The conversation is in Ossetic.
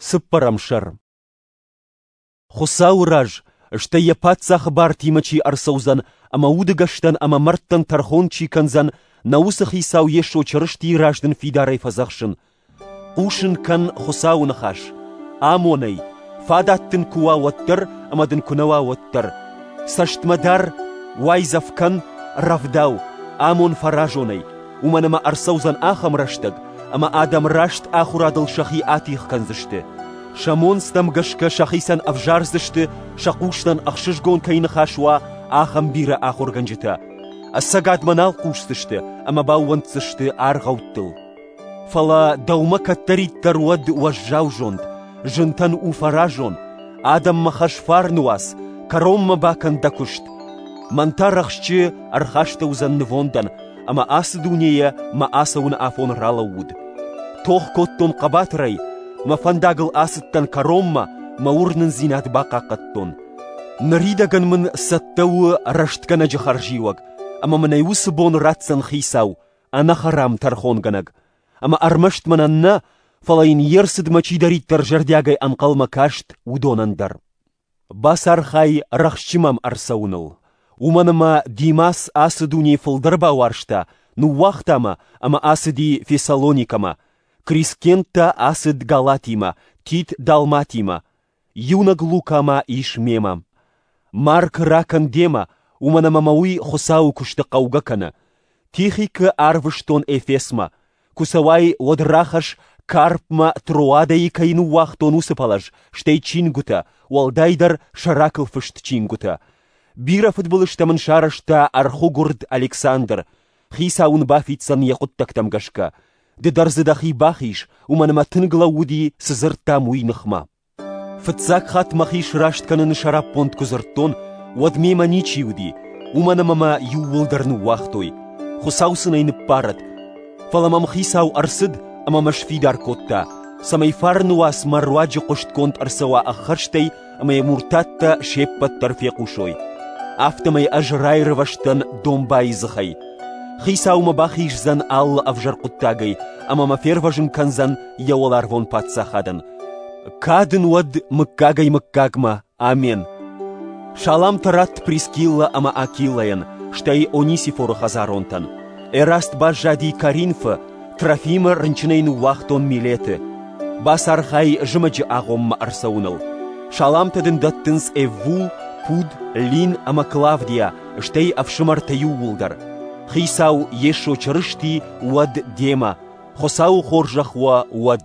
Цыппӕрӕм сӕр Хуыцауы раз, стӕй йӕ паддзахы бартимӕ чи ӕрцӕудзӕн ӕмӕ удыгӕстӕн ӕмӕ мӕрдтӕн тӕрхон чи кӕндзӕн, нӕ уыцы хицау Йесо Чырыстийы раз дын фидарӕй фӕдзӕхсын: Хъусын кӕн Хуыцауы ныхас, амонӕй, фадат дын куы уа, уӕддӕр ӕмӕ дын куы нӕ уа, уӕддӕр. Цӕстмӕ дар, уайдзӕф кӕн, рӕвдау, амон фӕразонӕй, уымӕн ӕмӕ ӕрцӕудзӕн ахӕм рӕстӕг, ӕмӕ адӕм раст ахуырадыл сӕхи атигъ кӕндзысты. Сӕ монцтӕм гӕсгӕ сӕхицӕн ӕвзардзысты, сӕ хъустӕн ӕхсызгон кӕй ныхас уа, ахӕм бирӕ ахуыргӕнджытӕ. Ӕцӕгадмӕ нал хъусдзысты ӕмӕ баууӕнддзысты аргъӕуттыл. Фӕлӕ дӕумӕ кӕддӕриддӕр уӕд уӕззау зонд, зынтӕн у фӕразон, адӕммӕ хӕс фарны уац, кӕронмӕ бакӕн дӕ куыст. Мӕн та рӕхсчы ӕрхастӕуыдзӕн нывондӕн, ӕмӕ ацы дунейӕ мӕ ацӕуыны афон ралӕууыд. Тох кодтон хъӕбатырӕй, мӕ фӕндагыл ацыдтӕн кӕронмӕ, мӕ уырнындзинад бахъахъхъӕдтон. Ныридӕгӕн мын цӕттӕ у рӕстгӕнӕджы хӕрзиуӕг, ӕмӕ мын ӕй уыцы бон ратдзӕн хицау, ӕнӕхӕрам тӕрхонгӕнӕг. Ӕмӕ ӕрмӕст мӕнӕн нӕ, фӕлӕ йын йе рцыдмӕ чидӕриддӕр зӕрдиагӕй ӕнхъӕлмӕ каст, уыдонӕн дӕр. Бацархай рӕхджы мӕм ӕрцӕуыныл, уымӕн ӕмӕ Димас ацы дунейы фылдӕр бауарзта, ныууагъта мӕ ӕмӕ ацыди Фессалоникӕмӕ, Крискенттӕ ацыд Галатимӕ, Тит Далматимӕ, иунӕг Лукӕ ма ис мемӕ. Марк ракӕн демӕ, уымӕн ӕмӕ мӕ уый Хуыцауы куысты хъӕугӕ кӕны. Тихикы арвыстон Эфесмӕ, Куы цӕуай, уӕд рахӕсс, карпмӕ Троадӕйы кӕй ныууагътон, уыцы пӕлӕз, стӕй чингуытӕ, уӕлдайдӕр сӕракыл фыст чингуытӕ. Бирӕ фыдбылызтӕ мын сарӕзта ӕрхуыгуырд Александр, хицау ын бафиддзӕн йӕ хъуыддӕгтӕм гӕсгӕ. Ды дӕр дзы дӕхи бахиз, уымӕн ӕмӕ тынг лӕууыди, цы дзырдтам, уый ныхмӕ. Фыццаг хатт мӕхи сраст кӕныны сӕраппонд куы дзырдтон, уӕд мемӕ ничи уыди, уымӕн ӕмӕ мӕ иууылдӕр ныууагътой, Хуыцау сын ӕй ныббарӕд. Фӕлӕ мӕм хицау ӕрцыд ӕмӕ мӕ сфидар кодта, цӕмӕй фарны уац мӕ руаджы хъуыстгонд ӕрцӕуа ӕххӕстӕй ӕмӕ йӕ муртаттӕ се ппӕт дӕр фехъусой. Афтӕмӕй ӕз раирвӕзтӕн домбайы дзыхӕй. Хицау мӕ бахиздзӕн алы ӕвзӕр хъуыддагӕй ӕмӕ мӕ фервӕзын кӕндзӕн йӕ уӕларвон паддзахадӕн, Кад ын уӕд мыггагӕй-мыггагмӕ! Амен! Саламтӕ радт Прискиллӕ ӕмӕ Акиллӕйӕн, стӕй Онисифоры хӕдзаронтӕн. Ӕраст баззади Каринфы, Трофимы рынчынӕй ныууагътон Милеты. Бацархай зымӕджы агъоммӕ ӕрцӕуыныл. Саламтӕ дын дӕттынц Эвву, Пуд, Лин ӕмӕ Клавдия, стӕй ӕфсымӕртӕ иууылдӕр. Хицау Йесо Чырысти уӕд демӕ, Хуыцауы хорзӕх уӕ уӕд!